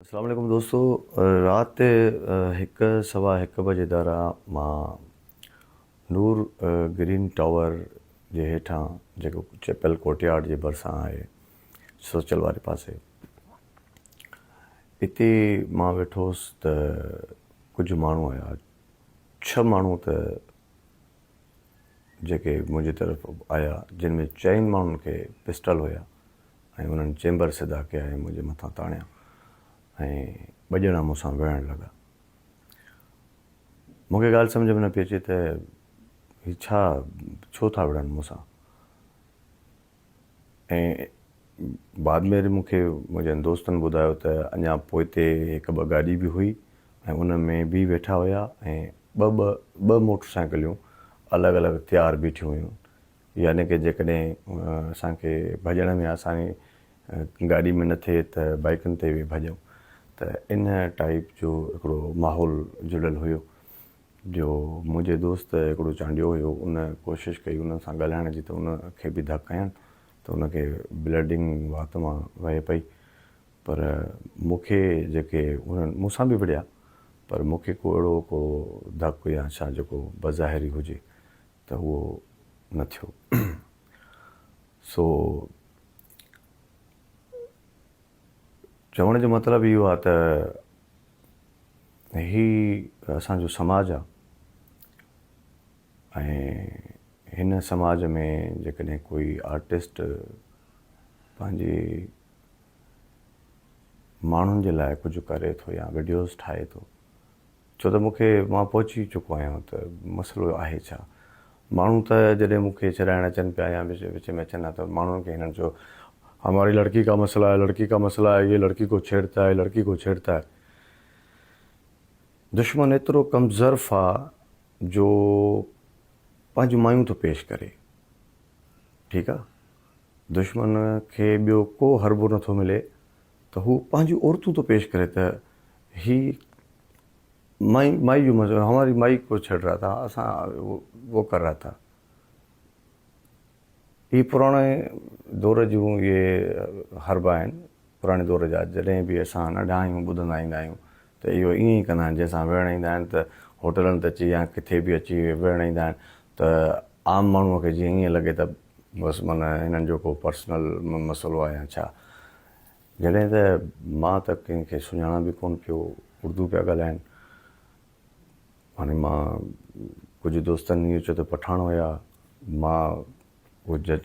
اسلام عليڪم دوستو رات هڪ سوا هڪ بجي دارا مان نور گرين ٽاور جي هيٺان جيڪو چيپل ڪورٽيارڊ جي ڀرسان آهي سوچل واري پاسي اتي مان ويٺو هوس ته ڪجهه ماڻهو آيا ڇهه ماڻهو ته جيڪي منهنجي طرف آيا جن ۾ چئن ماڻهن کي پسٽل هيا ۽ انهن چيمبر سڌا ڪيا ۽ منهنجي مٿان تاڻيا ۽ ٻه ڄڻا مون سان وڙهڻ لڳا. مون کي ڳالهه سمجهه ۾ نه پئي اچي ته هي ڇا ڇو ٿا وڙهن مون سان. ۽ بعد ۾ وري مون کي منهنجن دوستن ٻڌايو ته اڃا پوئتي هڪ ٻه گاڏي به هئي ۽ ان ۾ به ويٺا هيا ۽ ٻه ٻه ٻه موٽر سائيڪليون الڳ الڳ تيار بيٺيون هيون يعني ڪه جيڪڏهن اسان کي ڀڄڻ ۾ آساني گاڏي ۾ نه ٿئي ته بائيڪن تي به ڀڄون ته ان ٽائيپ جو هڪڙو ماحول جڙيل هيو جو منهنجي دوست هڪڙو چانڊيو هيو ان ڪوشش ڪئي ان سان ڳالهائڻ جي ته ان کي به ڌڪ هنيان ته ان کي بلڊنگ وات مان وهي پئي پر مون کي جيڪي انهن مون سان به وڙهيا پر مون کي ڪو اهڙو ڪو ڌڪ يا ڇا جيڪو بظاهري هجي ته اهو نه ٿيو سو چوڻ جو مطلب اهو آهي ته هي اسان جو سماج آهي ۽ هن سماج ۾ جيڪڏهن ڪوئي آرٽسٽ پنهنجي ماڻهن جي لاء ڪجهه ڪري ٿو يا وڊيوز ٺاهي ٿو ڇو ته مون کي مان پهچي چڪو آهيان ته مسئلو آهي ڇا. ماڻهو ته جڏهن مون کي ڇڏائڻ اچن پيا يا وچ وچ ۾ اچن ها ته ماڻهن کي هنن چيو هماري لڙڪي ڪا مسئلا هي لڙڪي ڪا مسئلا هي يي لڙڪي ڪو ڇيڙتا هي لڙڪي ڪو ڇيڙتا هي. دشمن ايترو ڪمظرف آ جو پنهنجون مايون ٿو پيش ڪري ٺيڪ آ دشمن کي ٻيو ڪو حربو نٿو ملي ته هو پنهنجون عورتون ٿو پيش ڪري ته هي مائي مائي جو مزو هماري مائي ڪو ڇڙ رها ٿا اسان وو ڪر رها ٿا هي پراڻي دور جون اهي حربا آهن پراڻي دور جا جڏهن به اسان ننڍا آهيون ٻڌندا ايندا آهيون ته اهو ائين ئي ڪندا آهن جنهن سان ويهڻ ايندا آهن ته هوٽلن ته اچي يا ڪٿي به اچي ويهڻ ايندا آهن ته عام ماڻهو کي جيئن ائين لڳي ته بس من هنن جو ڪو پرسنل مسئلو آهي يا ڇا؟ جڏهن ته مان ته ڪنهن کي سڃاڻان به ڪونه پيو، اردو پيا ڳالهائين. هاڻي مان ڪجهه دوستن اهو چيو ته پٺاڻ هيا، مان اهو جج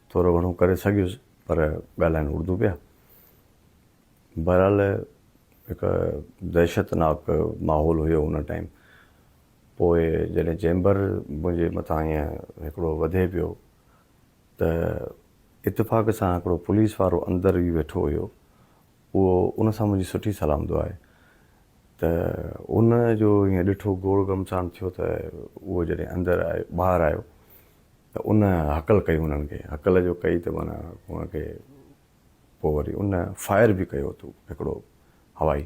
ٿورو گهڻو ڪري سگهيس پر ڳالهائين اردو پيا. بهرحال هڪ دهشتناڪ ماحول هيو ان ٽائيم. پوء جڏهن چيمبر منهنجي مٿان ائين هڪڙو وڌي پيو ته اتفاق سان هڪڙو پوليس وارو اندر ئي ويٺو هيو اهو ان سان منهنجي سٺي سلام دعائي ته ان جو ائين ڏٺو گوڙ گمسان ٿيو ته اهو جڏهن اندر آيو ٻاهر آيو ته ان هڪل ڪئي انهن کي هڪل جو ڪئي ته معنيٰ ان کي پوء وري ان فائر به ڪيو اٿو هڪڙو هوائي.